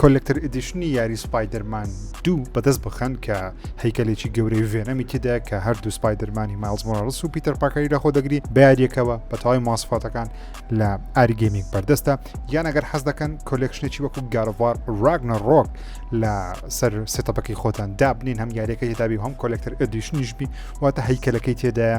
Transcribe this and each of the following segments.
کۆلێکتەر ئیدیشنی یاری سپایدەرمان دوو بەدەست بخەن کە هەیکەلێکی گەورەی ڤێنەمی تێدا کە هەردوو سپایدەرمانی مایلز مۆراڵس و پیتەر پاکەری لەخۆ دەگری بە یاریەکەوە بە تەواوی ماسفاتەکان لە ئاری گەیمینگ بەردەستە یان ئەگەر حەز دەکەن کۆلێکشنێکی وەکو گارڤار راگنە ڕۆک لە سەر ستەپەکەی خۆتان دابنین هەم یاریەکە هێدابی هەم کۆلێکتەر ئەدیشنیشبی واتە هەیکەلەکەی تێدایە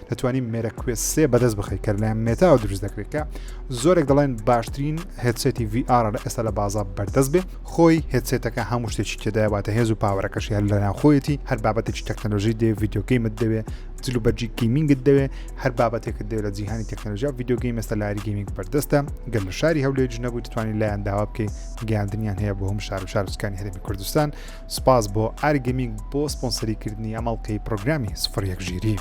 دەتوانین مێرە کوێست سێ بەدەست بخی کە لەلایەن مێتاوە دروست دەکرێت کە زۆرێک دەڵێن باشترین هێتسێتی VR لە ئێستا لە بازار بەردەست بێ خۆی هێتسێتەکە هەموو شتێکی تێدایواتە هێز و پاوەەکەشی هەر لەناو خۆیەتی هەر بابەتێکی تەکنەلۆژی دێ یددیوگەیمت دەوێ جل و بەرجی گیمینگت دەوێ هەر بابەتێکت دەوێت لە جیهانی تەکنەلژیا یددیوگەی مەستە لاری گەیمینگ بەردەستە گەل لە شاری هەولێ جنەبوو دەتوانانی لایەن داوا بکەیت گەاندنیان هەیە بۆ هەم شار و شارسکانی هەرمی کوردستان سپاس بۆ ئاری گەمینگ بۆ سپۆنسەری کردنی ئەم ئەڵلقەی پڕۆگرامی سفر یەک ژیری.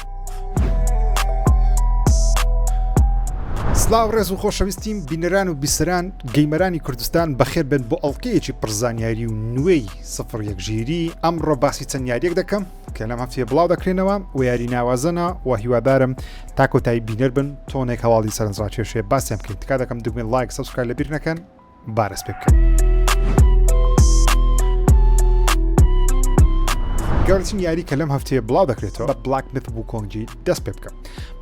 سلااو ڕێز و خۆشەویستیم بینەران و بیسران گەیمەرانی کوردستان بەخێر بن بۆ ئەڵلقەیەکی پرزانیاری و نوێی سفر یەکژیری ئەمڕۆ باسی چەند یاریەک دەکەم کە لەم هەفتێ بڵاو دەکرێنەوە و یاری ناوازەنا و هیوادارم تاکۆتایی بینەر بن تۆنێک هەواڵی سەرنجڕاکێشێ باسیان بکەین تکا دەکەم دگوێن لایک سەسکای لەبیر نەکەن بارەس پێ بکەن. گەورەترین یاری کە لەم هەفتەیە بڵاو دەکرێتەوە بە بلاک مث وکۆنگی دەست پێ بکەم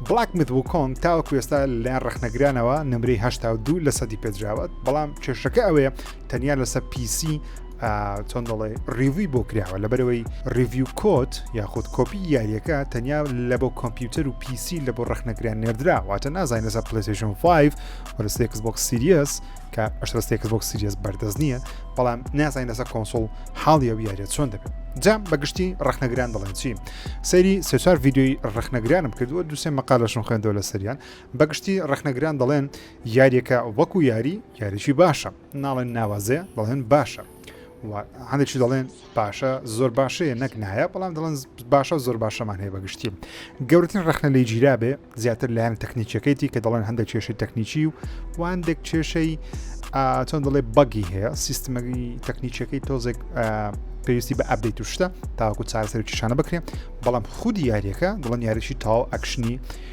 بلاک مث وکۆنگ تاوە کوێستا لەیان ڕخنەگرانەوە نمرەی هشتا دوو لە سەدی پێدراوەت بەڵام کێشەکە ئەوەیە تەنیا لەسەر پیسی چۆن دەڵێ ڕیوی بۆ کراوە لە بەرەوەی ڕیڤیو کۆت یاخود کۆپی یاریەکە تەنیا لە بۆ کۆمپیوتەر و پیسی لە بۆ ڕخنەگران نێردرا واتە نازانین لەسەر پلیسیشن 5 وەرستێکس بۆکس سیریەس کە ئەشتەستێکس بۆکس سیریەس بەردەست نییە بەڵام نازانین لەسەر کۆنسۆل حاڵیە و یاریە چۆن دەبێت جام بەگشتی ڕخنەگران دەڵێن چی سەیری سێچار یددیوی ڕخنەگرانم کردووە دوسێ مەقالەشون خوێندەوە لە سەریان بەگشتی ڕخنەگران دەڵێن یاریەکە وەکو یاری یاریی باشە ناڵێن ناوازەیە دەڵێن باشە هەندێکی دەڵێن باشە زۆر باشەیە نەک نایە بەڵام دەڵێن باشە زۆر باشەمان هەیە بەگشتی گەورتن ڕخنە لی گیرا بێ زیاتر لایەن تەکنیکەکەیتی کە دەڵێن هەندێک کێشەی تەکنیکی و واندێک کێشەی چۆن دەڵێ بەگی هەیە سیستمەگی تەکنیکەکەی تۆزێک پێویستی بە ئەبدەیت و شتە تاوەکو چارەسەرکیشانە بکرێن بەڵام خودی یاریەکە دڵن یاریشی تاو ئەکشنی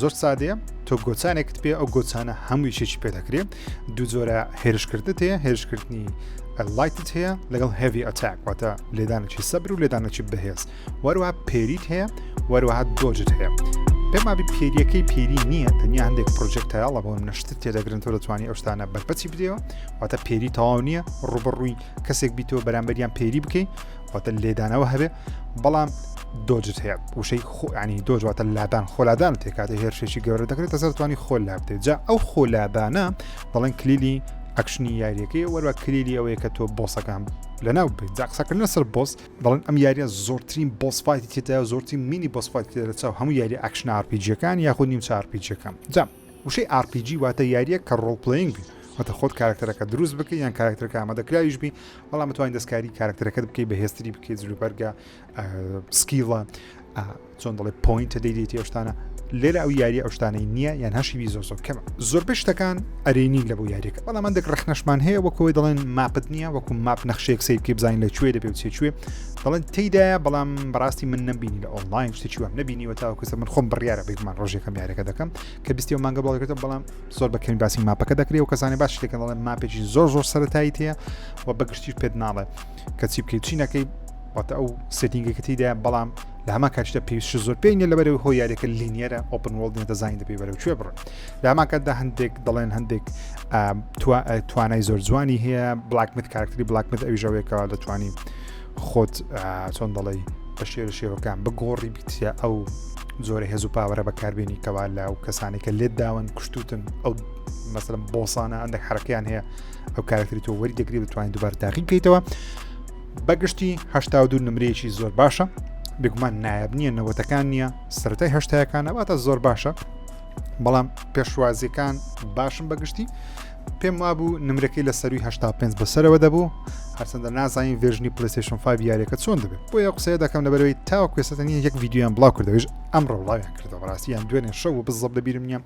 زۆر سادەیە تۆ گۆچانێکت پێ ئەو گۆچانە هەموو یشێکی پێ دەکرێت دوو جۆرە هێرشکردت هەیە هێرشکردنی لایتت هەیە لەگەڵ هەوی ئەتاک واتە لێدانێکی سەبر و لێدانێکی بەهێز وەروە پێریت هەیە وەروەها دۆجت هەیە پێمابی پێریەکەی پێری نییە تەنیا هەندێک پرۆژێکتایڵە بۆ نەشت تێدەگرن تۆ دەتوانانی ئەوشتانە بەرپەچی بدەوە واتە پێری تەواو نییە ڕوبڕووی کەسێک بیتەوە بەرامبەریان پێری بکەیت واتە لێدانەوە هەبێ بەڵام دۆجت هەیە وشەی خۆیانی دۆجواتە لادان خۆلادان تێکاتی هێرشێکی گەورە دەکرێتە سەرتوانی خۆل لا بدێت جا ئەو خۆلادانە دەڵێن کلیلی ئەکشنی یاریەکەی وەروە کلیلی ئەوەیە کە تۆ بۆسەکان لەناو بێت جاقسەکردنە سەر بۆس دەڵێن ئەم یاریە زۆرترین بۆسفاایتی تێدا زۆرترین مینی بۆسفاایت لە چاو هەموو یاری ئەکشن ئارپیجیەکان یاخود نیم چارپیجەکەم جام وشەی ئارپیجی واتە یارییەک کە ڕۆڵ پلەیینگ بێت، واتە خۆت کارەکتەرەکەت دروست بکەی یان کارەکتەرەکە ئامادەکراویش بی، بەڵام بتوانیت دەستکاری کارەکتەرەکەت بکەی بەهێزتری بکەیت جلوبەرگە، سکیڵە، چۆن دەڵێ پۆینتە دەیدەیتی ئەو شتانە، لێرە ئەو یارییە ئەو شتانەی نییە یان هەر شیوی زۆر زۆر کەمە. زۆربەی شتەکان ئەرێنین لە بۆ یارییەکە، بەڵام هەندێک ڕەخنەشمان هەیە وەک ئەوەی دەڵێن ماپت نییە وەکو ماپ نەخشەیەک سەیر بکەی بزانین لە کوێ دەبێ و چێ کوێ، دەڵێن تێدایە بەڵام بەڕاستی من نەبینی لە ئۆنلاین شتێکی وام نبینیوە تاوەکوسە من خۆم بڕیاە بێکمان ڕۆژێکم یارەکە دەکەم کە بیستی و مانگە بڵێت بەڵام زۆر بەکەین باسی ماپەکە دەکرێت و کەسانی باش لەکە دەڵێن ماپێکی زۆر زۆر سەرتایی تەیە و بەگشتی پێت ناڵێ کە چی بکەیت چینەکەی واتە ئەو سێتینگەکە تیدا بەڵام لە هەما کاشدا پێویست زۆر پێین لە بەرەوەی هۆ یاریەکە لینیەرە ئۆپن وڵ دەزانین دەبێ بەرەو کوێ بڕن لە هەماکەدا هەندێک دەڵێن هەندێک توانای زۆر جوانی هەیە بلاکمت کارکتری بلاکمت ئەویژەوەیەکەوە دەتوانین خۆت چۆن دەڵی بە شێر شێوەکان بگۆڕی بیتە ئەو زۆرە هێز و پاوەرە بەکاربیێنی کەوا لە و کەسانی کە لێت داون کوشتوتن ئەو مەسلم بۆسانە ئەندێک حرەکەیان هەیە ئەو کارکتری تۆ وەری دەگری بتوانین دوبار تاقی بکەیتەوە بەگشتی هشتا دو نمرەیەکی زۆر باشە بگومان نایب نییە نەوەتەکان نییە سەرای هەشتایەکانەواتە زۆر باشە بەڵام پێشوازیەکان باشم بەگشتی پێم وابوو نمرەکەی لە سەروی 85 بۆ سەرەوە دەبوو هەرچەندە نازانین ڤێژنی پلیسشن 5 یاریەکە چۆن دەبێت بۆ یە قسەیە دەکەم لەبەرەوەی تاوە کوێسەتە نیە یەک یددیویان بڵاو کردەوەش ئەم ڕەوڵاویان کردەوە ڕاستیان دوێنێ شەو و بزەب لە بیرم نیە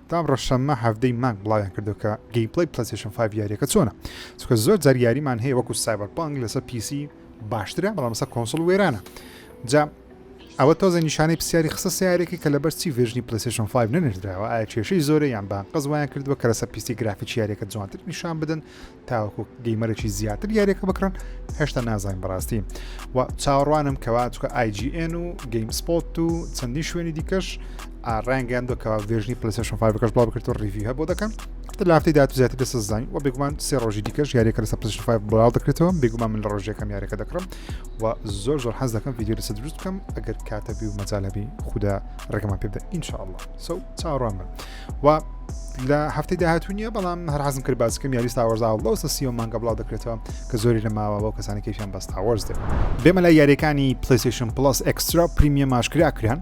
تام ڕەشەممە هەفتەی مانگ بڵاویان کردو کە گەی پلی پلیسشن 5 یاریەکە چۆنە چکە زۆر جار یاریمان هەیە وەکو سایبەر پانگ لەسەر پیسی باشترە بەڵام لەسەر کۆنسڵ وێرانە جا ئەوە تۆزێ نیشانەی پسیاری خسە سیارێکی کە لەبەر چی ڤێرژنی پلەیستێشن 5 نەنێردراوە ئایا کێشەی زۆرە یان بانقەز وایان کردووە کە لەسەر پیستی گرافیکی یاریەکە جوانتر نیشان بدەن تاوەکو گەیمەرێکی زیاتر یاریەکە بکڕن هێشتا نازانین بەڕاستی و چاوەڕوانم کەوا چکە IGN و گەیم سپۆت و چەندین شوێنی دیکەش ڕانگەیان دۆکەوە ڤێژنی پلسشن فاکەش بڵاو بکرێت و ڕیڤی هەبوو دەکەن لافتی دات زیاتر دەسەزانین و بێگومان سێ ڕۆژی دیکەش یاریەکە لەسەر پلسشن فای بڵاو دەکرێتەوە بێگومان من لە ڕۆژەکەم یاریەکە دەکڕم و زۆر زۆر حەز دەکەم ڤیددیو لەسە دروست بکەم ئەگەر کاتەبی و مەجالەبی خوددا ڕێگەمان پێ بدە ئینشاءله سو چاڕوان بن و لە هەفتەی داهاتوو نیە بەڵام هەر حەزم کرد باسکەم یاری تاوەرزا و لەوسە سیۆ مانگە بڵاو دەکرێتەوە کە زۆری لە ماوە بۆ کەسانی کەیفیان بەس تاوەرز دێت بێمە لە یاریەکانی پلیسیشن پلس ئەکسترا پریمیە ماشکرا کران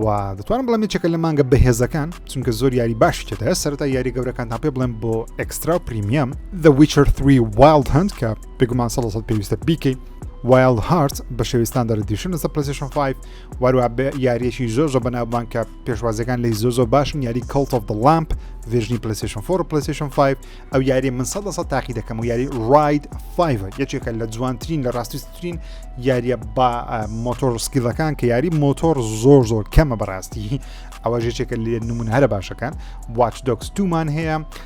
و دەتوانم بڵێم چەکە لە مانگە بەهێزەکان چونکە زۆر یاری باشی تێدا سەرتا یاری گەورەکان تا پێ بڵێم بۆ ئەکسترا پریمیەم The Witcher 3 Wild Hunt کە بێگومان سەد لە سەد پێویستە بیکەی وایلد هارت بە شێوستان دەردیشن لەسەر پرسیشن 5 واروا بە یاریەکی زۆر زۆر بەناوبان کە پێشوازەکان لی زۆ زۆ باشن یاری کەڵت of the لامپ ڤێژنی پلیسیشن 4 پلیسیشن 5 ئەو یاری من سە سە تاقی دەکەم و یاری ڕاید 5 یەکێکە لە جوانترین لە ڕاستیترین یاریە با مۆتۆر سکیلەکان کە یاری مۆتۆر زۆر زۆر کەمە بەڕاستی ئەوە ژێکێکە لێ نمون هەرە باشەکان واچ دۆکس دومان هەیە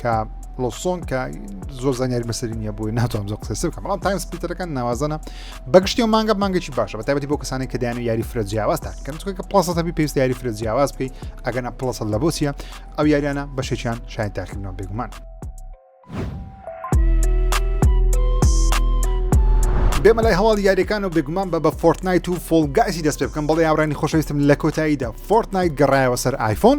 کە لۆسۆن کە زۆر زانیاری مەسەری نیە بۆی ناتوانم زۆر قسە بکەم بەڵام تایم سپیتەرەکان ناوازەنە بەگشتی و مانگە مانگەی باشە بە تایبەتی بۆ کەسانی کە دایان و یاری فرە جیاواز تاکەن چکە کە پڵسە تەبی پێست یاری فرە جیاواز بکەی ئەگەنا پڵسە لە بۆچیە ئەو یاریانە بەشێکیان شای تاکردنەوە بێگومان. بێمە لای هەواڵ یاریەکان و بێگومان بە بە فۆرتنایت و فۆلگایسی دەست پێ بکەم بەڵێ یاڕانی خۆشەویستم لە کۆتاییدا فۆرتنایت گەڕایەوە سەر ئایفۆن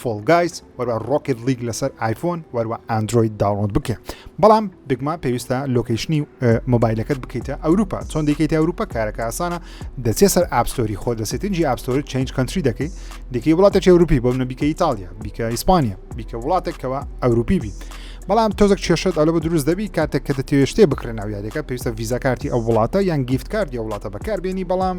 فۆڵ گایز وەروە ڕۆکت لیگ لەسەر ئایفۆن وەروە ئەندروید داوڵۆند بکە بەڵام بگما پێویستە لۆکیشنی مۆبایلەکەت بکەیتە ئەوروپا چۆن دیکەیت ئەوروپا کارەکە ئاسانە دەچێت سەر ئاپستۆری خۆ دەسێت تنجی ئاپستۆری چنج کەنتری دەکەیت دیکەی وڵاتە چێ ئەوروپی بۆ منە بیکە ئیتالیا بیکە ئیسپانیا بیکە وڵاتێکەوە ئەوروپی بیت بەڵام تۆزێک کێشت ئەلە بە دروست دەبی کاتێک کە دەتێشتێ بکرێن ناویارەکە پێویستە ویزا کارتی ئەو وڵاتە یان گیفت کارتی ئەو وڵاتە بەکاربیێنی بەڵام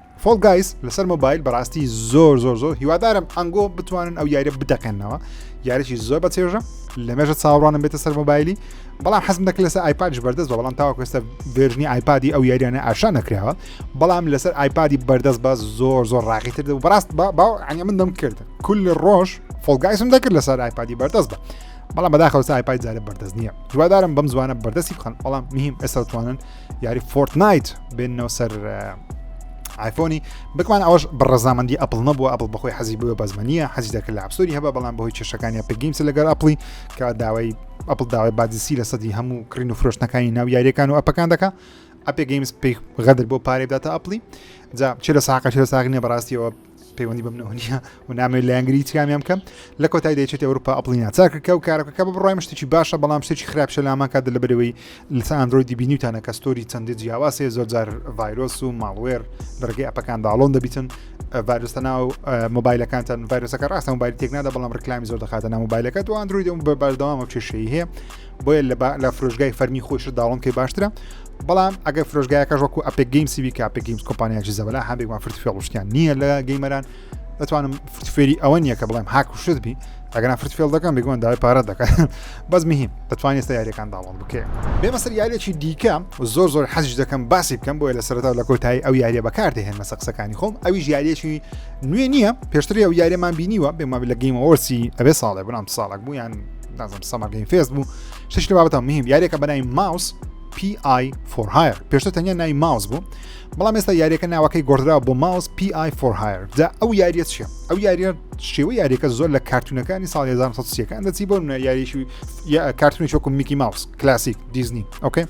فۆڵ گایز لەسەر مۆبایل بەڕاستی زۆر زۆر زۆر هیوادارم ئەنگۆ بتوانن ئەو یاریە بتەقێنەوە یاریی زۆر بە چێژە لە مێژە چاوەڕوانم بێتە سەر مۆبایلی بەڵام حەزم دەکرد لەسەر ئایپادش بەردەست بە بەڵام تاوە کوێستە بێژنی ئایپادی ئەو یاریانە ئاشا نەکراوە بەڵام لەسەر ئایپادی بەردەست بە زۆر زۆر ڕاقیتر دە بەڕاست باو ئەنی من دەم کرد کل ڕۆژ فۆلگایسم دەکرد لەسەر ئایپادی بەردەست بە بەڵام بەداخەوە ئایپای زارە بەردەست نییە جوادارم بەم زوانە بەردەستی بخەن بەڵام میم ئێستا توانن یاری فۆرتنایت بێنەوە سەر ئایفۆنی بکمان ئەوش بە ڕزامەندی ئەپل نەبووە ئەپل بەخۆی حەزی بووە بەزمەنیە حەزی دەکرد لە ئەپسۆری هەبە بەڵام بەهۆی کێشەکانی پگەیمس لەگەر ئەپلی کە داوای ئەپل داوای بادیسی لە سەدی هەموو کڕین و فرۆشتنەکانی ناو یاریەکان و ئەپەکان دەکە ئەپێ گەیمس پێی غەدر بۆ پارێ بداتە ئەپلی جا چ لە ساقە چ لە ساغنیە بەڕاستیەوە پەیوەندی بەم نەوەنیە و نامەوێت لایەنگری هیچ کامیان بکەم لە کۆتای دەچێت ئەوروپا ئەپڵی ناچارکە و کارەکەکە بە بڕای مشتێکی باشە بەڵام شتێکی خراپشە لامان کات لە بەرەوەی لەسە ئەندرۆیدی بینیوتانە کە ستۆری چەندی جیاواسێ زۆرجار ڤایرۆس و ماڵوێر لە ڕێگەی ئەپەکان داڵۆن دەبیتن ڤایرۆستە ناو مۆبایلەکانتان ڤایرۆسەکە ڕاستە مۆبایل تێک نادا بەڵام ڕکلامی زۆر دەخاتە ناو مۆبایلەکە دو ئەندرویدم بە بەردەوامە کێشەی هەیە بۆیە لە لە فرۆژگای فەرمی خۆش داڵم پێ باشترە بەڵام ئەگەر فرۆژگایەکە ژۆکو ئەپێک گەیم سیوی کا پێک گەیمز کۆمپانیاکی زەبلا هەندێکمان فرت فێڵشتیان نییە لە گەیمەران دەتوانم فرتفێری ئەوە نییە کە بڵێم هاک و شت بی ئەگەنا فرت فێڵ دەکەم بگوان داوای پارە دەکات بەس مهم دەتوانێت ستا یاریەکان داڵم بکەێت بێمە سەر یاریێکی دیکە زۆر زۆر حەزش دەکەم باسی بکەم بۆیە لە سەرتا لە کۆتایی ئەو یاریە بەکاردە هێن مەسە قسەکانی خۆم ئەوی یاریێکی نوێ نییە پێشتری ئەو یاریەمان بینیوە بێمە لە گەیمەوەسی ئەبێ ساڵێ بنام ساڵک بوو یان نازم سەمەر گەیم فێست بوو شتێکی بابەتە مهم یاریەکە بەنای ماوس PI for hire پێشتە تەنیا نای ماوس بوو بەڵام ئێستا یاریەکە ناوەکەی گۆدرا بۆ ماوس PI for hire جا ئەو یاریە چیە ئەو یاریە شێوە یاریەکە زۆر لە کارتونەکانی ساڵ 1970ەکان دەچی بۆ یاریشی کارتونی شۆکم میکی ماوس کلاسیک دیزنی ئۆکەی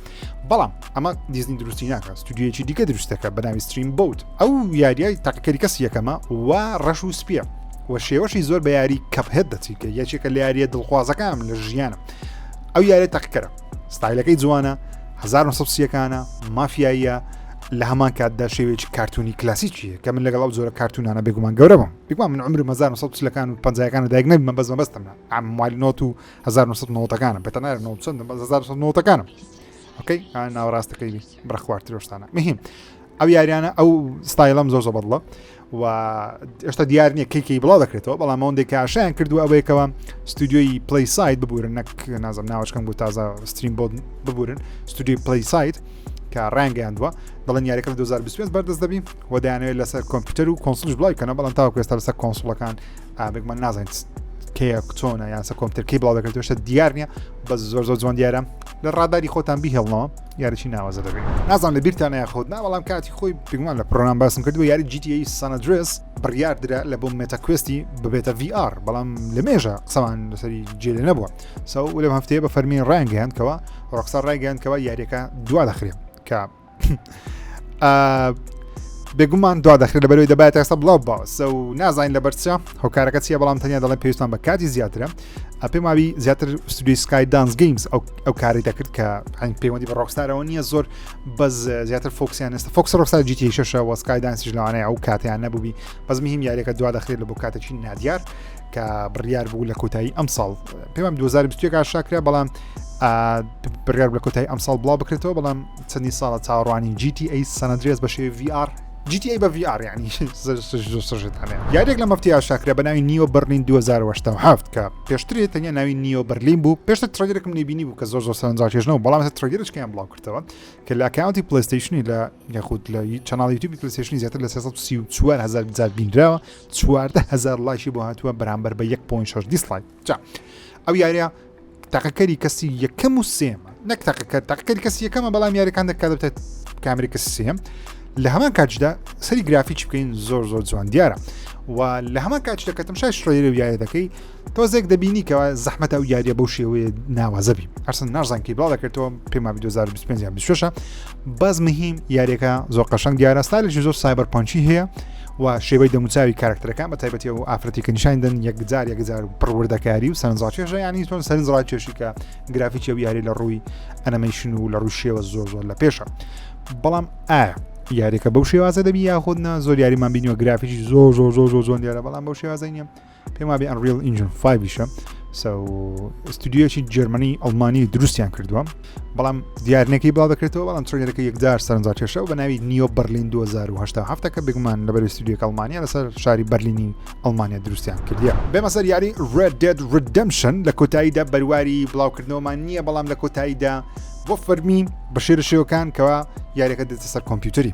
بەڵام ئەمە دیزنی دروستی ناکە ستودیویەکی دیکە دروستەکە بەناوی ستریم بوت ئەو یاریای تاقیکەری کەس یەکەمە و ڕەش و سپیە و شێوەشی زۆر بە یاری کەپهێت دەچیکە یەکێکە لە یاریە دڵخوازەکانم لە ژیانم ئەو یارێ تاقیکەرە ستایلەکەی جوانە 1970ەکانە مافیاییە لە هەمان کاتدا شێوێکی کارتونی کلاسیکیە کە من لەگەڵ ئەو جۆرە کارتونانە بێگومان گەورەم بگوان من عمرم 1970 لەکان و پنجەکان و دایگنە من بەزمە بەستم ئەم مالنۆت و هەزار نۆ سەد نۆتەکانم بە تەنار نۆ چەندم بەس هەزار سەد نۆتەکانم ئۆکەی ئا ناوەڕاستەکەی بی بڕە خوارترۆشتانە مهم ئەو یاریانە ئەو ستایلم زۆر زەبەڵە و ئێشتا دیار نییە کەیکی بڵاو دەکرێتەوە بەڵام ئەوەندێک کاشیان کردووە ئەوەیەکەوە ستودیۆی پلی سایت ببورن نەک نازم ناوچکەم بۆ تازە ستریم بۆ ببورن ستودیۆی پلی سایت کە ڕانگەیاندووە دەڵێن یاریەکە 2025 بەردەست دەبین و دەیانەوێت لەسەر کۆمپیوتەر و کۆنسلش بڵای کەنە بەڵام تاوکوێستا لەسەر کۆنسڵەکان ئابێک من نازانین کەیە چۆنە یاسە کۆمپتەرکەی بڵاو دەکرێت شتە دیار نییە بە زۆر زۆر جوان دیارە لە ڕاداری خۆتان بیهێڵنەوە یاریی ناوازە دەبێت نازان لە بیرتان یاخود نا بەڵام کاتی خۆی پێگومان لە پرۆنام باسم کردو یاری جیتی سانەدرس بڕیار درا لە بۆ مێتاکوستی ببێتە VR بەڵام لە مێژە قسەمان لەسەری جێلێ نەبووە سەو لەم هەفتەیە بە فەرمی ڕایگەیاندکەوە ڕۆخسا ڕایگەیاندکەوە یاریەکە دوا دەخرێت کە بێگومان دوا دەخرێت لە بەرەوەی دەبات ئێستا بڵاو باوسە و نازانین لە بەرچە هۆکارەکە چیە بەڵام تەنیا دەڵێن پێویستان بە کاتی زیاترە پێم وابی زیاتر ستودی سکای دانس گەیمز ئەو کاری دەکرد کە هەنگ پەیوەندی بە ڕۆکستارەوە نییە زۆر بەس زیاتر فۆکسیان ئێستا فۆکس ڕۆکستا جیتی شەشە وەسکای دانسیش لەوانەیە ئەو کاتیان نەبووبی بەزمی هیم یاریەکە دوا دەخرێت لە بۆ کاتێکی نادیار کە بڕیار بوو لە کۆتایی ئەم ساڵ پێم 2021 ئاشاکرا بەڵام بڕیار لە کۆتایی ئەم ساڵ بڵاو بکرێتەوە بەڵام چەندی ساڵە چاڕوانی GTA سەنەدرێز بە شێ VR GTA بە VR ینی سژتانە یادێک لە مەفتی ئاشاکرا بە ناوی نیوە بەرلین 2007 کە پێشتری تەنیا ناوی نیوە بەرلین بوو پێشتە ترگرێکم نبینی بوو کە زۆر زۆر سەرنجاکێژنەوە بەڵام ترگرشکیان بڵاو کردەوە کە لە کاونتی پلیستیشنی لە یاخود لە چناڵی یوتیوب پلیستیشنی زیاتر لە 1940 هزار بینراوە چواردە هەزار لایشی بۆ هاتووە بەرامبەر بە 1.6 دیسلایک جا ئەو یاریە تاقەکەری کەسی یەکەم و سێمە نەک تاقەکە تاقەکەری کەسی یەکەمە بەڵام یاریەکان دەکات بێت کامری کەسی سێم لە هەمان کاتجدا سەری گرافیچ بکەین زۆر زۆر جوان دیارە و لە هەمان کاتچ دەکەتم شای شڕێری و یاە دەکەی تۆزێک دەبینی کەەوە زەحمەت ئەو یاریە بەو شێوەیە ناوازەبی ئەرسن نازان کی بڵاو دەکردەوە پێما 2025 بەس مهیم یاریەکە زۆر قەشنگ دیارە ستالێکی زۆر سایبەر پۆنچی هەیە و شێوەی دەموچاوی کارکتەکان بە تایبەتی و ئافرەتی کە نیشان دەن یەکجار یەکجار و پڕوردەکاری و سەرنجڕاکێشە ینی تۆن سەرنجڕاکێشی کە گرافیکی و یاری لە ڕووی ئەنەمەیشن و لە ڕوو شێوە زۆر زۆر لە پێشە بەڵام ئایا یاریەکە بەو شێوازە دەبی یاخودنا زۆر یاریمان بینیوە گرافیکی زۆر زۆر زۆر زۆر زۆن دیارە بەڵام بەو شێوازە نیە پێم وابێ ئەنریل ئینجن 5شە ستودیۆکی جەرمنی ئەڵمانی دروستیان کردووە بەڵام دیارنەکەی باڵ دەکرێتەوە بەڵام ترێنەکە یەکدار سەرنجا کێشە و بە ناوی نیۆ بەرلین 2010 کە بگومان لەبەر ستودیۆک ئەڵمانیا لەسەر شاری بەرلینی ئەڵمانیا دروستیان کردیە بێمە سەر یاری Red Dead Redemption لە کۆتاییدا بەرواری بڵاوکردنەوەمان نییە بەڵام لە کۆتاییدا بۆ فەرمی بە شێرە شێوەکان کەوا یاریەکە دێتە سەر کۆمپیوتەری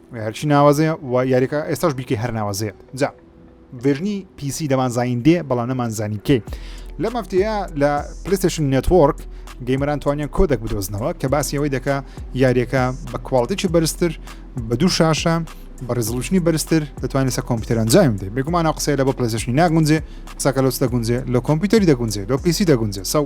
هەرچی ناوازەیە و یاریەکە ئێستاش بیکەی هەر ناوازەیە جا ڤێژنی پیسی دەمان زین دێ بەڵام نەمان زانی کێ لە مەفتەیە لە پلیستشن نێتۆرک گەیمەران توانیان کۆدەک بدۆزنەوە کە باسی ئەوەی دەکە یاریەکە بە کوواڵتێکی بەرزتر بە دوو شاشە بە ڕزلوشنی بەرزتر دەتوانێت سە کۆمپیوتەران جایم دێ بێگومانە قسەی لە بۆ پلیستشنی ناگونجێ سەکەلۆس دەگونجێ لە کۆمپیوتەری دەگونجێ لۆ پیسی دەگونجێ سەو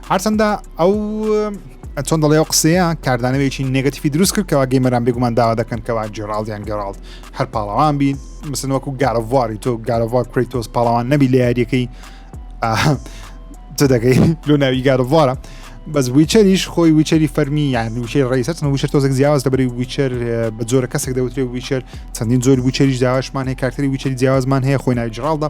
هەرچەندە ئەو چۆن دەڵێ ئەو قسەیە کاردانەوەیکی نگەتیفی دروست کرد کەوا گەیمەران بێگومان داوا دەکەن کەوا جێراڵدیان گەڕاڵ هەر پاڵەوان بین مسن وەکو گارەڤواری تۆ گارەڤوار کوری تۆز پاڵەوان نەبی لە یاریەکەی تۆ دەگەی لۆ ناوی گارەڤوارە بەس ویچەریش خۆی ویچەری فەرمی یان ویچەی ڕیسەر ویچەر تۆزێک جیاواز دەبری ویچەر بە جۆرە کەسێک دەوترێ ویچەر چەندین جۆری ویچەریش داواشمان هەیە کارتری ویچەری جیاوازمان هەیە خۆی ناوی جڕالدا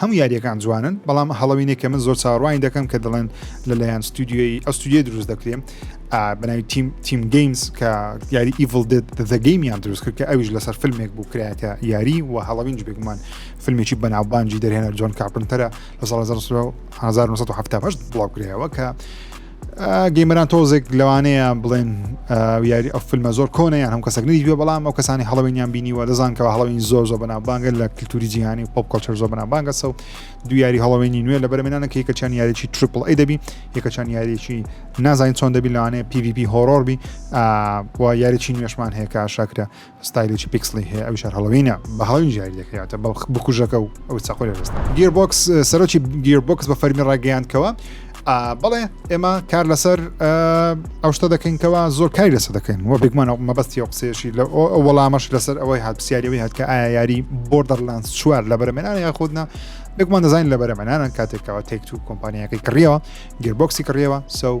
هەموو یاریەکان جوانن بەڵام هەڵەوینێک کە من زۆر چاڕوانی دەکەم کە دەڵێن لەلایەن ستودیۆی ئە ستودیۆ دروست دەکرێن بەناوی تیم تیم گەیمز کە یاری ئیڤڵ دێت دەگەیمیان دروست کرد کە ئەویش لەسەر فیلمێک بوو کرایەتە یاری و هەڵەوینج بێگومان فیلمێکی بەناوبانجی دەرهێنەر جۆن کاپنتەرە لە ساڵ 1970 بڵاو کرایەوە کە گەیمەران تۆزێک لەوانەیە بڵێن یاری ئەو فیلمە زۆر کۆنیان هەم کەسەک نوێ بەڵام ئەو کەسانی هەڵەوەینیان بینیوە دەزان کەەوە هەڵین زۆر زۆر بەنا بانگە لە کللتوری جیهانی پۆپ کۆچەر زۆر بەنا بانگە سەو دو یاری هەڵەوەینی نوێ لە بەرمێنانە کە یەکەچان یاریی ترپل ئەی دەبی یەکەچان یاریی نازانین چۆن دەبی لەوانەیە PVP هۆرۆربی و یاریی نوێشمان هەیە کە شاکرە ستایلێکی پیکسڵی هەیە ئەویش هەر هەڵۆوینە بە هەڵۆوین ژیاری دەکرێتە بەڵخ بکوژەکە و ئەو چاقۆ لە دەستە گیربۆکس سەرۆکی گیربۆکس بە فەرمی ڕاگەیاندکەوە بەڵێ ئێمە کار لەسەر ئەو شتە دەکەینکەوە زۆر کاری لەسە دەکەین وە بێگومانە مەبەستی ئەو قسێشی لە ئەو وەڵامەش لەسەر ئەوەی هات پرسیارەوەی هات کە ئایا یاری بۆردەرلانس چوار لە بەرەمێنان یا خودنا بێگومان دەزانین لە بەرەمەنانان کاتێکەوە تێکت و کۆمپانیەکەی کڕیەوە گربۆکسی کڕیەوە سو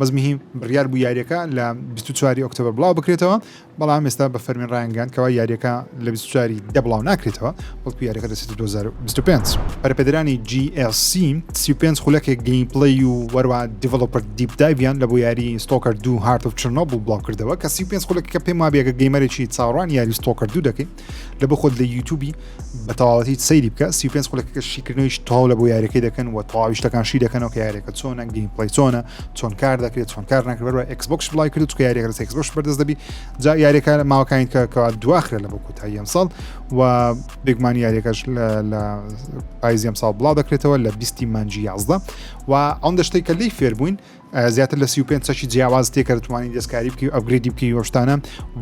بەس مهیم بڕیار بوو یاریەکە لە بیست و چوار ی ئۆکتۆبەر بڵاو بکرێتەوە، بەڵام ئێستا بە فەرمی ڕایانگەیاند کەوا یاریەکە لە بیست و چوار ی دە بڵاو ناکرێتەوە، بەڵکو یاریەکە دەچێتە دوو هەزار و بیست و پێنج. پەرەپێدەرانی جی ئێل سی سی و پێنج خولەکێک گەیمپلەی و هەروەها دیڤلۆپەر دیپ دایڤیان لە بۆ یاری ستۆکەر دوو هارت ئۆف چرنۆبڵ بڵاو کردەوە، کە سی و پێنج خولەکەکە پێم وابێ گە گەیمەرێکی چاوەڕوانی یاری ستۆکەر دوو دەکەی، لە بۆ خۆت لە یوتوبی بە تەواوەتی سەیری بکە سی پێنج خولەکە شیکردنەوەیش تاو لە بۆ یاریەکەی دەکەن و تەواویشتەکان شی دەکەنەوە کە یاریەکە چۆنە گەیم پلی چۆنە چۆن کار دەکرێت چۆن کار نکرد بە ئەکسبکس بڵای کرد کە یاریەکە لەس ئەکسبش بەردەست دەبی جا یاریەکە لە ماوەکانی کە کەوا دواخرە لە بۆ کوتایی ئەم ساڵ و بێگمان یاریەکەش لە پایزیەم ساڵ بڵاو دەکرێتەوە لە بیستی مانجی یازدە و ئەم دەشتەی کە لی فێربووین زیاتر لە سی و پێنج چەکی جیاواز تێ کە دەتوانانی دەستکاری بکەی و ئەپگریدی بکەی وەشتانە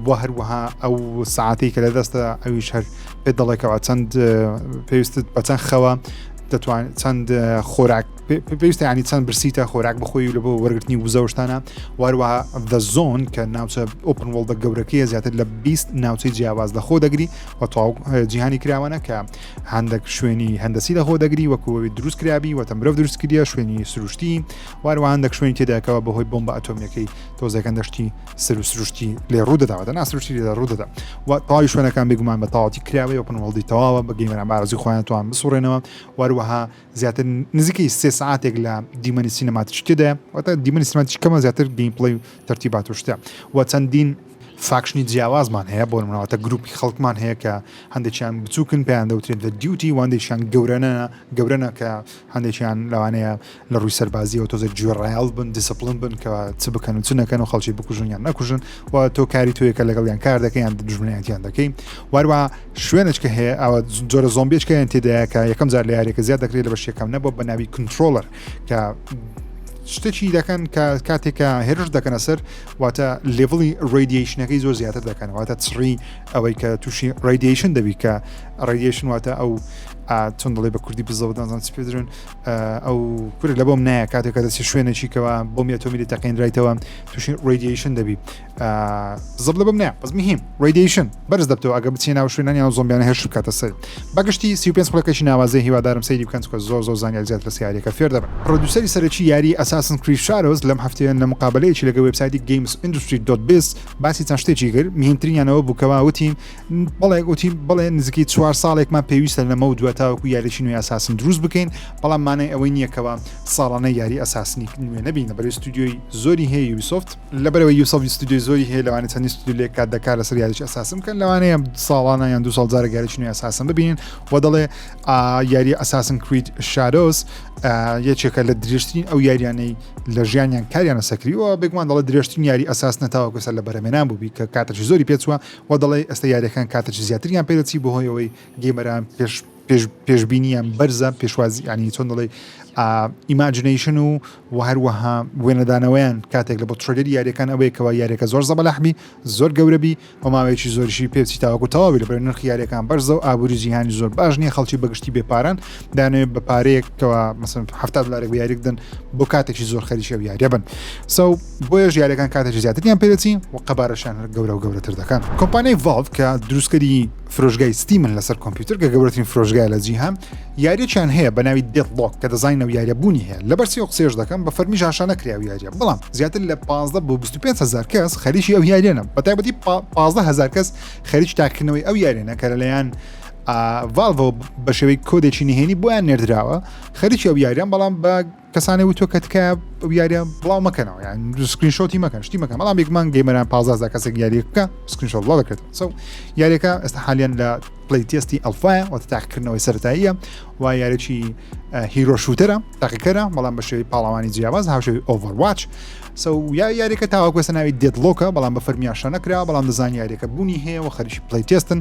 و هەروەها ئەو ساعتی کە لە دەستە ئەویش هەر پێ دەڵێکەوە چەند پێویستت بە چەند خەوە دەتوان چەند خۆراک پێویستە ینی چەند برسیتە خۆراک بخۆی لە بۆ وەرگرتنی وزەشتانە واروەها دە زۆن کە ناوچە ئۆپن وڵدە گەورەکەیە زیاتر لە 20 ناوچەی جیاواز لە خۆ دەگری و تاو جیهانی کراوانە کە هەندێک شوێنی هەندسی لە خۆ دەگری وەکوەوەی دروستکرابی وەتە مرۆڤ دروستکردە شوێنی سروشتی و هەروەها هەندێک شوێنی تێدایە کەوا بەهۆی بۆمبە ئەتۆمییەکەی تۆزێک هەندێک شتی سەر و سروشتی لێ ڕوو دەداوە دەنا سروشتی لێدا ڕوو دەدا و تەواوی شوێنەکان بێگومان بە تەواوەتی کراوە یۆپن وڵدی تەواوە بە گەیمەران بارزی خۆیان توان بسوڕێنەوە و هەروەها زیاتر نزیکەی سێ ساعتێک لە دیمەنی سینەماتیک تێدایە واتە دیمەنی سینەماتیک کەمە زیاتر گەیم پڵەی و تەرتیبات و شتە و چەندین فاکشنی جیاوازمان هەیە بۆ منەوەتە گروپی خەڵکمان هەیە کە هەندێکیان بچووکن پێیان دەوترێت لە دیوتی واندێکیان گەورەنە گەورەنە کە هەندێکیان لەوانەیە لە ڕووی سەربازیەوە تۆزێک گوێڕایەڵ بن دیسپلن بن کە چ بکەن و چ نەکەن و خەڵکی بکوژن یان نەکوژن و تۆ کاری تۆیەکە لەگەڵ یان کار دەکەیان دژمنیانیان دەکەی واروا شوێنێککە هەیە ئەوە جۆرە زۆمبێچکەیان تێدایەکە یەکەم جار لە یاریەکە زیاد دەکرێت لە بەشیەکەم نەبوو بە ناوی کنترۆلەر کە شتێکی دەکەن کە کاتێکە هێرش دەکەنە سەر واتە لێڤڵی ڕێدیشنەکەی زۆر زیاتر دەکەن واتە چڕی ئەوەی کە تووشی ڕێدیشن دەبی کە ڕێدیشن واتە ئەو ئا چۆن دەڵێ بە کوردی بزەوت نازان چ پێ درێن ئەو کورە لە بۆم نایە کاتێک کە دەچێت شوێنێکی کەەوە بۆم ئەتۆمیلی تەقێنرایتەوە تووشی ڕێدیشن دەبی زب لە بم نایە بەس مهم ڕێدیشن بەرز دەبتەوە ئەگە بچێ ناو شوێنانی ئەو زۆمبیانە هێش بکاتە سەر بەگشتی سی پێ خولەکەشی ناوازەی هیوادارم سەیری بکەن چکە زۆر زۆر زانیار زیات لە سیارەکە فێر دەبن ڕدوسری سەرەکی یاری ئەساسن کریشارۆز لەم هەفتەیە لە مقابلەیەکی لەگە وبسایتی گەیمس ئینندستری دۆت بس باسی چەند شتێکی کرد مهمترینیانەوە بووکەوە وتین بەڵێ گوتی بڵێ نزیکەی چوار ساڵێکمان پێویستە لەمە و دووە تاوەکو یاریی نوێ ئەساسن دروست بکەین بەڵام مانای ئەوەی نییەکەوە ساڵانە یاری ئەساسنی نوێ نەبین لە بەرەی ستودیۆی زۆری هەیە یوبیسۆفت لەبەرەوەی یوسف ستودیۆی زۆری هەیە لەوانە چەندی ستودیو لێک کات دەکات لەسەر یاریی ئەساسن بکەن لەوانەیە ساڵانە یان دو ساڵ جارە یاریی نوێ ئەساسن ببینین و دەڵێ یاری ئەساسن کریت شارۆس یەکێکە لە درێژترین ئەو یاریانەی لە ژیانیان کاریانە سەکریەوە بێگومان دەڵە درێژترین یاری ئەساس نەتاوە گوسەر لە بەرەمێنان بووبی کە کاتەی زۆری پێچوە و دەڵێ ئێستە یاریەکان کاتەچی زیاتریان پێدەچی بۆ هۆیەوەی گەیمەران پێش پێشببینیان بەرزە پێشوازی ینی چۆن دەڵێ ئیماجنیشن و و هەروەها وێنەدانەوەیان کاتێک لە بۆ ترلەر یاریەکان ئەوەیە کەوا یاریەکە زۆر زەبەلاحبی زۆر گەورەبی و ماوەیەکی زۆریشی پێچی تاوەکو تەواوی لە بەر نرخ یاریەکان بەرزە و ئابووری جیهانی زۆر باش نیە خەڵکی بەگشتی بێپاران دانێ بە پارەیەکەوە مەسن ه دلارێک یاریکدن بۆ کاتێکی زۆر خەریکی و یاریە بن سو بۆیەش یاریەکان کاتێکی زیاتریان پێدەچی و قەبارەشیان هەر گەورە و گەورەتر دەکەن کۆمپانیای ڤاڵ کە دروستکەری فرۆژگای ستیمن لەسەر کۆمپیوتر کە گەورەترین فرۆژگای لە جیهان یاریەکیان هەیە بە ناوی دێت بڵۆک کە دەزانین و یاریە بوونی هەیە لە بەرسی و قسێش دەکەم بە فەرمی ژاشانە کراوی یاریە بەڵام زیاتر لە 15 بۆ 25 هزار کەس خەریکی ئەو یاریەنە بە تایبەتی 15 هزار کەس خەریک تاکردنەوەی ئەو یاریەنە کە لەلایەن ڤالڤۆ بە شێوەی کۆدێکی نهێنی بۆیان نێردراوە خەریکی ئەو یاریان بەڵام بە کەسانێ وتۆ کە تکایە ئەو یاریە بڵاو مەکەنەوە یان سکرینشۆتی مەکەن شتی مەکەم بەڵام بێکمان گەیمەران پازازدا کەسێک یاری بکە سکرینشۆ بڵاو دەکرێت سو یاریەکە ئێستا حالیان لە پلی تستی ئەلفاە وە تاقکردنەوەی سەرتاییە و یارێکی هیرۆ شووتەرە تاقیکەرە بەڵام بە شێوی پاڵەوانی جیاواز هاوشێوی ئۆڤەرواچ سو یا یاریەکە تاواکوێسە ناوی دێتلۆکە بەڵام بە فەرمیاشە نەکرا بەڵام دەزان یاریەکە بوونی هەیە و خەریکی پلی تستن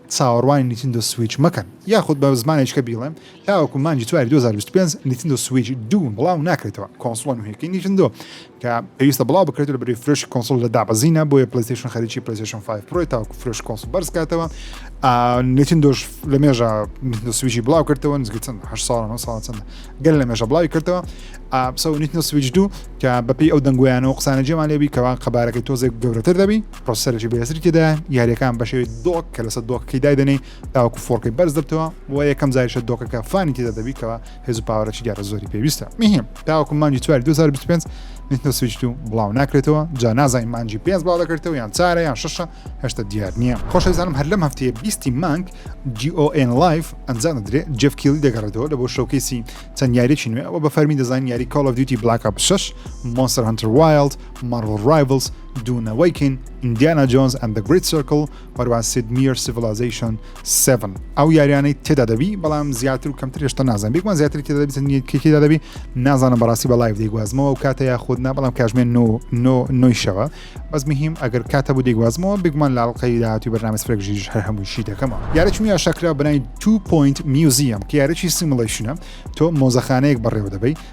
چاوەڕوانی نیتندۆ سویچ مەکەن یاخود بە زمانێکی دیکە بیڵێم تاوەکو مانگی چواری دوو هەزار و بیست و پێنج نیتندۆ سویچ دوو بڵاو ناکرێتەوە کۆنسڵە نوهێکەی نیتندۆ کە پێویستە بڵاو بکرێت لەبری فرۆشی کۆنسڵ لە دابەزینە بۆیە پلەیستەیشن خەریکی پلەیستەیشن 5 پرۆی تاوەکو فرۆش کۆنسڵ بەرز کاتەوە نیتندۆش لە مێژە نیتندۆ سویچی بڵاو کردەوە نزگە چەند هەشت ساڵ نۆ ساڵ چەند گەل لە مێژە بڵاوی کردەوە سەو نیتندۆ سویچ دوو کە بەپێی ئەو دەنگویانەوە قسانە جێمان لێبی کەوا قەبارەکەی تۆزێک گەورەتر دەبی پرۆسەرێکی بەێزری تێدا یاریەکان بەشێ دۆک کە لەسەر دۆکەکەی دایدەنەی تاوکو فۆرکەی بەرز دەبتەوە بۆ یەکەم زایشە دۆکەکە فانی تێدا دەبیتەوە هێز و پاوەرەی دیارە زۆری پێویستە میهیم تاوکو مانجی چوار 2025 نتە سویچ و بڵاو ناکرێتەوە جا نازای مانجی پێنج بڵاو دەکرێتەوە یان چارە یان شەشە هێشتا دیار نییە خۆشەزانم هەر لەم هەفتەیە بیستی مانگ GON لایف ئەنجام دەدرێ جف کیلی دەگەڕێتەوە لە بۆ شەوکەیسی چەند یاریی نوێ ئەوە بە فەرمی دەزانین یاری کاڵ دیوتی بلاک 6 مۆنسەر هەنتر وایلد مارڤل ڕایڤلز دوو نەوەیکین، Indiana Jones and the Great Circle، و هەروەها Sid Meier Civilization Seven. ئەو یاریانەی تێدا دەبی بەڵام زیاتر و کەمتر هێشتا نازانم بێگومان زیاتری تێدا دەبی چەند یەکێکی تێدا دەبی نازانم بەڕاستی بە لایڤ دەیگوازمەوە و کاتە یاخود نا بەڵام کاژمێ نۆ نۆ نۆی شەوە بەس مهم ئەگەر کاتە بوو دەیگوازمەوە بێگومان لە ئەڵقەی داهاتووی بەرنامەی سفرەک ژیریش هەر هەمووشی دەکەمەوە یاریی نوێ ئاشاکرا بە ناوی Two Point Museum کە یاریی سیموڵەیشنە تۆ مۆزەخانەیەک بەڕێوە دەبەی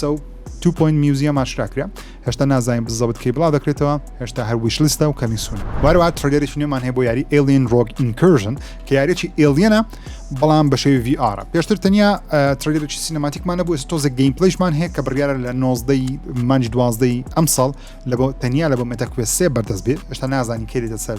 سەو تو پۆینت میوزیەم ئاشکرا کرا هێشتا نازانین بزەبت کەی بڵاو دەکرێتەوە هێشتا هەر ویش لیستە و کەمی سوون وارەوە ترلێریش نوێمان هەیە بۆ یاری ئێلین ڕۆگ ئینکرژن کە یارێکی ئێلیەنە بەڵام بە شێوی VR پێشتر تەنیا ترلێرێکی سینەماتیکمان نەبوو ئێستا تۆزە گەیم پلیشمان هەیە کە بڕیارە لە 19 مانج دوازدەی ئەمساڵ لە بۆ تەنیا لە بۆ مێتەکوێ سێ بەردەست بێت هێشتا نازانین کێری دەسەر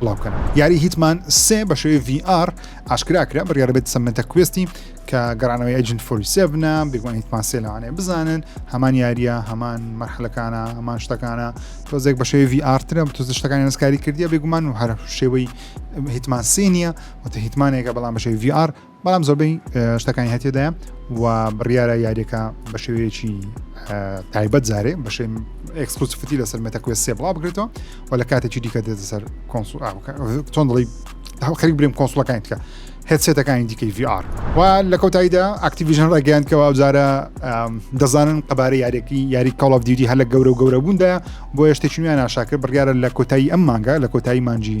بڵاو بکەن. یاری هیتمان سێ بە شێوەی ڤی ئاڕ ئاشکرا کرا بڕیارە بێت سەمەنتە کوێستی کە گەڕانەوەی ئەجنت فۆری سێ بنە بێگومان هیتمان سێ لەوانەیە بزانن هەمان یاریە هەمان مەرحلەکانە هەمان شتەکانە تۆزێک بە شێوی ڤی ئارترە بە تۆز شتەکانی نسکاری کردیە بێگومان و هەر شێوەی هیتمان سێ نییە وتە هیتمانێکە بەڵام بە شێوی ڤی ئار بەڵام زۆربەی شتەکانی هەتێدایە و بڕیارە یاریەکە بە شێوەیەکی تایبەت زارێ بەشێ ئەکسکلوسفتی لەسەر مەتەکوێ سێ بڵا بگرێتەوە و لە کاتێکی دیکە دێتە سەر کۆنسول چۆن دڵی خەریک برێم کۆنسولەکانی تکە هێتسێتەکانی دیکەی VR و لە کۆتاییدا ئاکتیڤژن ڕێگەیاندکەەوە ئەوجارە دەزانن قەبارە یاریەکی یاری کاڵف دیدی هەر لە گەورە و گەورە بووندا بۆ هێشتێکیان ناشاکرد بڕیاە لە کۆتایی ئەم مانگە لە کۆتایی مانجی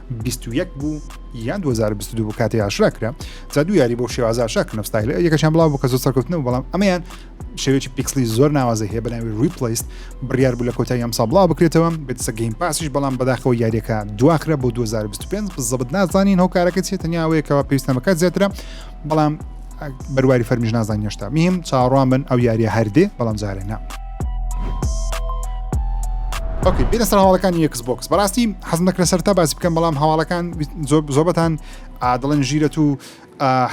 بیست و یەک بوو یان 2022 بوو کاتی ئاشرا کرا جا دوو یاری بۆ شێوازە ئاشا کە نستایل یەکەشان بڵاو بکە زۆر سەرکەوتنەوە بەڵام ئەمیان شێوێکی پیکسلی زۆر ناوازە هەیە بەناوی ریپلیست بڕیار بوو لە کۆتای ئەم سابڵاو بکرێتەوە بێتسە گەیم پاسیش بەڵام بەداخەوە یاریەکە دواخرە بۆ 2025 بزەبت نازانین هۆکارەکە چێت تەنیاوەیەکەوە پێویستەمەکە زیاترە بەڵام بەرواری فەرمیش نازان هێشتا میم چاڕوان بن ئەو یاریە هەردێ بەڵام جارێ نا. ئۆکی بێنە سەر هەواڵەکانی یەکس بۆکس بەڕاستی حەز نەکرە سەر تا باسی بکەم بەڵام هەواڵەکان زۆبەتان ئادڵن ژیرەت و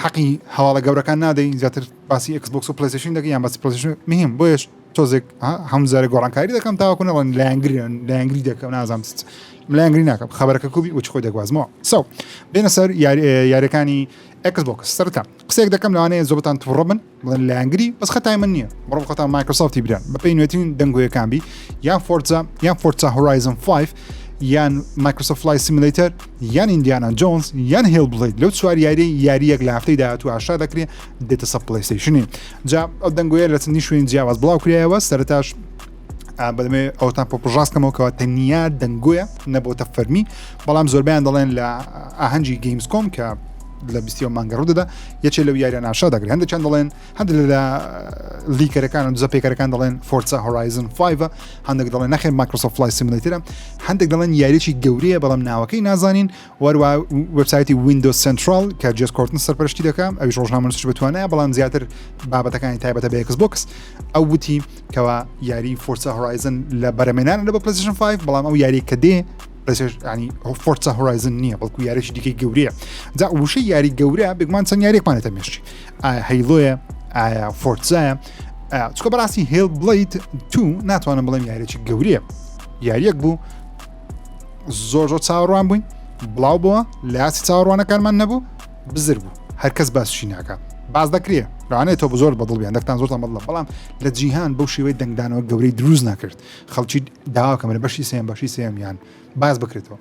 حەقی هەواڵە گەورەکان نادەین زیاتر باسی ئەکسبکس و پلیسیشن دەگە یان باسی پلیسیشن مهم بۆیش تۆزێک هەمزارە گۆڕانکاری دەکەم تاواکو نەڵەن لایەنگرن لایەنگری دەکەم نازانم لایەنگری ناکەم خبرەکە کوبی وچ خۆی دەگوازمەوە سەو بێنە سەر یارەکانی ئێکس بۆکس سەرەتا قسەیەک دەکەم لەوانەیە زۆربەتان توڕە بن بڵێن لایەنگری بەس خەتای من نییە بڕۆ خۆتان مایکرۆسۆفتی بران بە پێی نوێترین دەنگۆیەکان بی یان فۆرزا یان فۆرزا هۆرایزن 5 یان مایکرۆسۆفت لای سیمولەیتەر یان ئیندیانا جۆنز یان هێڵ بڵیت لەو چوار یاری یاریەک لە هەفتەی داهاتوو ئاشا دەکرێت دێتە سە پلەیستەیشنی جا ئەو دەنگۆیە لە چەندی شوێن جیاواز بڵاو کرایەوە سەرتاش بەمێ ئەوتان پۆپژاست کەمەوە کەەوە تەنیا دەنگۆیە نەبووتە فەرمی بەڵام زۆربیان دەڵێن لە ئاهەنگی گەیمز کۆم کە لە بیستی و مانگەڕوو دەدا یەکێ لەو یاریان ناشا دەگرێن هەندێکیان دەڵێن هەند لە لیکەرەکان و زەپێکەکان دەڵێن فۆرسا هۆرایزن 5 هەندێک دەڵێن نەخێن ماکرۆسۆفلای سیملیترە هەندێک دەڵێن یاریی گەورەیە بەڵام ناوەکەی نازانین هەروەها وێبسایتی ویندۆز سنتراڵ کە جێس کۆرتن سەرپەرشتی دەکەم ئەویش ڕۆژنامەنووسش بتوانایە بەڵام زیاتر بابەتەکانی تایبەتە بە یکس بۆکس ئەو وتی کەوا یاری فۆرسە هۆرایزن لە بەرەمێنان لە بە پلسیشن 5 بەڵام ئەو یاری کە دێ ینی فۆرسە هۆرایزن نییە بەڵکو یاریش دیکەی گەورەیە جا وشەی یاری گەورە بگمان چەند یاریێکمانێتە مێشتی ئایا هەیلۆیە ئایا فۆرتزایە چکە بەڕاستی هێڵ بڵیت تو ناتوانم بڵێم یاریێکی گەورەیە یاریەک بوو زۆر زۆر چاوەڕوان بووین بڵاو بووە لە یاسی چاوەڕوانەکانمان نەبوو بزر بوو هەرکەس باسشی ناکە باز دەکرێ ڕانێت تۆ زۆر بەدڵ بیان دەکتان زۆر بەڵە بەڵام لە جیهان بەو شێوەی دەنگدانەوە گەورەی دروست ناکرد خەڵکی داواکەمە لە بەشی سێم بەشی سێمیان باز بکرێتەوە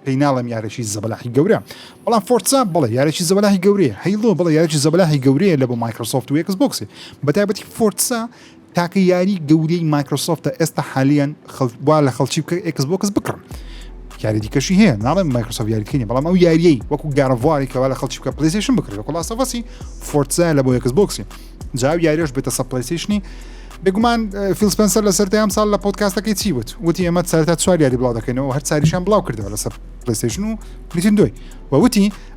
پێیناڵم یارێکی زەبلاحی گەورە بەڵام فۆرسا بڵێ یارێکی زەبلاحی گەورەیە هەیڵۆ بڵێ یارێکی زەبلاحی گەورەیە لە بۆ مایکرۆسۆفت و یکس بۆکسی بەتابەتی فۆرسا تاکە یاری گەورەی مایکرۆسۆفتە ئێستا حالیان وا لە خەڵکی بکە ئێکس بۆکس بکڕم یاری دیکەشی هەیە ناڵێن مایکرۆسۆفت یاریکردنی بەڵام ئەو یاریەی وەکو گارڤواری کەوا لە خەڵکی بکە پلیسیشن بکرێت وەکو لاسەفەسی فۆرتزا لە بۆ ئێکس بۆکسی جاو یاریش بێتە سە پلیسیشنی بێگومان فیلسپەنسەر لە سەر ئەم ساڵ لە پۆتکاستەکەی چی وت وتی ئەمە سەرتا چوار یاری بڵاو دەکەینەوە هەر چاریشان بڵاو کردەوە لەسەر پلیسیشن و پلیتین دوی وتی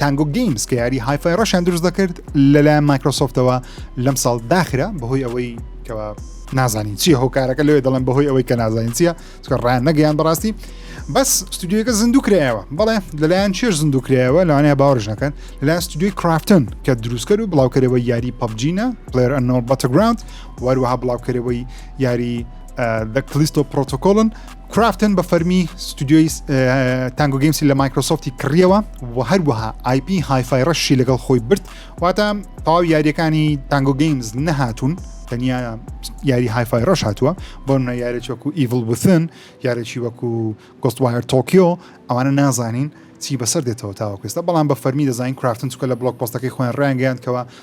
تانگۆ گەیمز کە یاری هایفای ڕەشیان دروست دەکرد لەلایەن مایکرۆسۆفتەوە لەم ساڵ داخرا بەهۆی ئەوەی کەەوە نازانین چیە هۆکارەکە لەوێ دەڵێن بەهۆی ئەوەی کە نازانین چیە چکە ڕیان نەگەیان بەڕاستی بەس ستودیوەکە زیندوو کرایەوە بەڵێ لەلایەن چێش زیندوو کرایەوە لەوانەیە باوەڕش نەکەن لەلایەن ستودیوی کرافتن کە دروستکەر و بڵاوکەرەوە یاری پەبجینە پلێر ئەنۆ بەتەگراند وەروەها بڵاوکەرەوەی یاری دەکلیستۆ پرۆتۆکۆلن کرافتن بە فەرمی ستودیۆی تانگۆ گەیمسی لە مایکرۆسۆفتی کڕیەوە و هەروەها آیP هایفای ڕەشی لەگەڵ خۆی برد واتە تەواو یاریەکانی تانگۆ گەیمز نەهاتوون تەنیا یاری هایفای ڕەش هاتووە بۆ منە یارێک وەکو ئیڤڵ بثن یارێکی وەکو گۆستوایر تۆکیۆ ئەوانە نازانین چی بەسەر دێتەوە تاوەکوێستا بەڵام بە فەرمی دەزانین کرافتن چکە لە بڵۆک پۆستەکەی خۆیان ڕیانگەیاندکەوە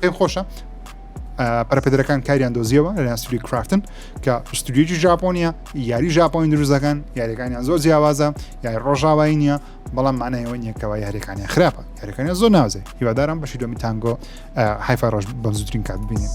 پێم خۆشە پەرپێدرەکان کاریان دۆزیەوە لە ناسری کرافتن کە پشتگوێکی ژاپۆنیە یاری ژاپۆین دروزەکان یاریەکانیان زۆر جیاوازە یاری ڕۆژاوایی نیە بەڵام مانایەوە نیەکەوە یاریەکانیان خراپە یاریەکانیان زۆر ناوزێ هیوادارم بەشی دۆمی تانگۆ حیفا ڕۆژ بەم زووترین کات ببینێت.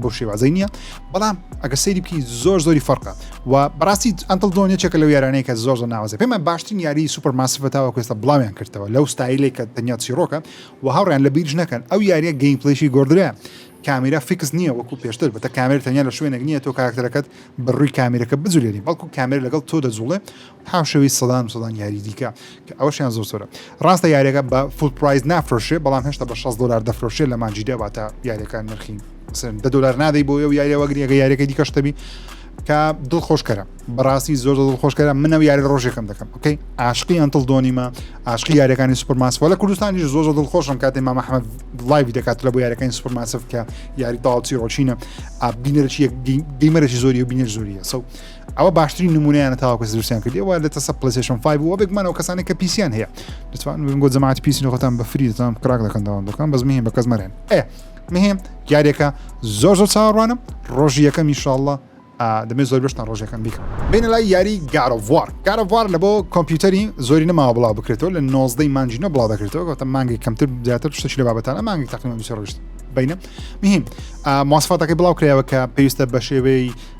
بەو شێوازەی نییە بەڵام ئەگەر سەیری بکەین زۆر زۆری فەرقە و بەڕاستی ئەتل دۆن یەکێکە لەو یارانەیە کە زۆر زۆر ناوازە پێمان باشترین یاری سوپەر ماسفە تاوە کوێستە بڵاویان کردەوە لەو ستایلێک کە تەنیا چیرۆکە و هاوڕیان لە بیرش نەکەن ئەو یاریە گەیم پلیشی گۆدرە کامیرا فیکس نییە وەکو پێشتر بەتە کامێر تەنیا لە شوێنێک نییە تۆ کاکتەرەکەت بە ڕووی کامیرەکە بجولێنی بەڵکو کامێر لەگەڵ تۆ دەجوڵێ هاوشێوەی سەدان و سەدان یاری دیکە کە ئەوەشیان زۆر زۆرە ڕاستە یاریەکە بە فول پرایز نافرۆشێ بەڵام هێشتا بە 60 دلار دەفرۆشێ لە مانجی دەواتە یاریەکان نرخی سن دە دلار نادەی بۆ ئەو یاریەوە گرێگە یاریەکە دیکە شتەبی کە دڵ خۆشکەرە بەڕاستی زۆر دڵ خۆشکەرە منەوە یاری ڕۆژێکم دەکەم ئۆکەی عاشقی ئەنتڵ دۆنیمە عاشقی یاریەکانی سوپەرماسوە لە کوردستانیش زۆر دڵ خۆشم کاتی مامە حمە لایوی دەکات لە بۆ یاریەکانی سوپەرماسف کە یاری تاڵچی ڕۆچینە بینەرچی دیمەرەی زۆری و بینەر زۆریە سەو ئەوە باشترین نمونەیانە تاواکە دروستیان کردی وە لە تەسە پلیسشن 5 بووە بێکمانەوە کەسانی کە پیسیان هەیە دەتوان بۆ جەماعات پیسی خۆتان بە فری دەتان کراک دەکەن داوام دەکەن بەس مهم بە کەس مەرێن ئێ مهم یاریەکە زۆر زۆر چاوەڕوانم ڕۆژی یەکەم میشاءله دەمێ زۆر بشتان ڕۆژەکەم بیکە بین لای یاری گارڤوار گارڤوار لە بۆ کۆمپیوتەری زۆری نەماوە بڵاو بکرێتەوە لە نۆزدەی مانجینە بڵاو دەکرێتەوە گەوتە مانگی کەمتر زیاتر شتەش لە بابەتانە مانگی تاقیمە دوسێ ڕشت بینە مهم ماسفاتەکەی بڵاو کرایەوە کە پێویستە بە شێوەی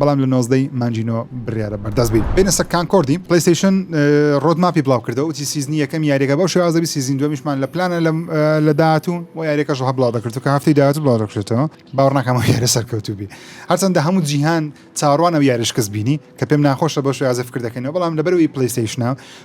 بەڵام لە نۆزدە ی مانگی نۆ بڕیارە بەردەست بین بێینە سەر کانکۆردی پلەیستەیشن ڕۆد ماپی بڵاو کردەوە وتی سیزنی یەکەمی یاریەکە بەو شێوازە دەبی سیزنی دوەمیشمان لە پلانە لە داهاتوو بۆ یاریەکەش هەر بڵاو دەکردو کە هەفتەی داهاتوو بڵاو دەکرێتەوە باوەڕ ناکەم ئەو یارە سەرکەوتوو بی هەرچەندە هەموو جیهان چاوەڕوان ئەو یارە شکست بینی کە پێم ناخۆشە بەو شێوازە فکر دەکەنەوە بەڵام لەبەرەوەی پلەیستەیشنە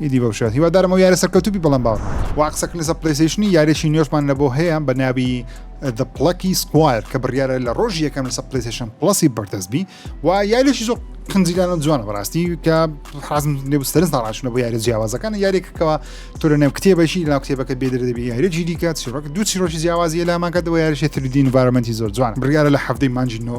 ئیدی بەو شێوە هیوادارم ئەو یارە سەرکەوتوو بی بەڵام باوەڕ ناکەم وا قسە کردنە سەر پلەیستەیشنی یاریێکی نوێشمان لە بۆ هەیە بە ناوی The Plucky Squire کە بڕیارە لە ڕۆژی یەکەم لەسەر پلەیستەیشن پڵەسی بەردەست بی و یاریێکی زۆر قنجیلانە جوانە بەڕاستی کە حازم لێ سەرنج ناڕاشنە بۆ یاری جیاوازەکان یاریێکەکەەوە تۆ لە نێو کتێبەشی لا کتێبەکە بێدرە دەبی یاریێکی دیکە چیڕۆک دوو چیرۆکی جیاوازی لاماکە دەوە یاریێ تردین ڤارمەنتی زۆر جوان بڕیارە لە هەفتەی مانجی نۆ